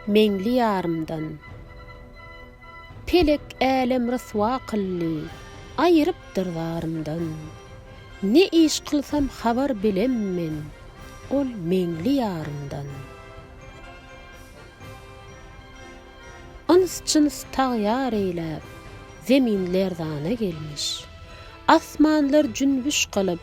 Meňli ýarymdan. Pelek älem ryswa kyldy, aýyrypdyr zarymdan. Ne iş kylsam habar bilem men, ol meňli ýarymdan. Yns-jyns tagýar eýläp, zemin lerzana gelmiş. Asmanlar jünbüş kylyp.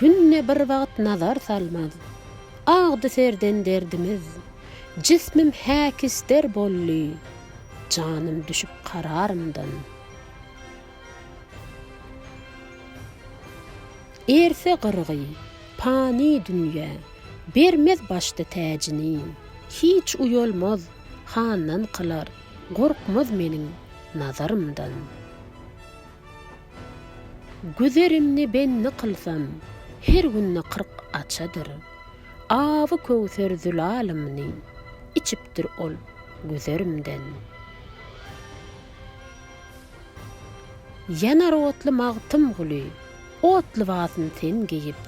Günde bir wagt nazar salmaz. Agdy serden derdimiz. Jismim häkister boldy. Janym düşüp kararymdan. Erse gyrgy, pany dünýe. Bermez başda täjini. Hiç uýalmaz, handan kylar. Gorkmaz meniň nazarymdan. Güzerimni bendi kylsam, her günde kyrk açadyr. Awy köwser zülalymyny, içipdir ol güzerimden. Ýanar otly Magtymguly, ot lybasyn sen geýip.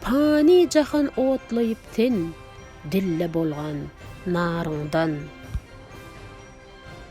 Pany jahan otlaýyp sen, dilde bolgan naryňdan.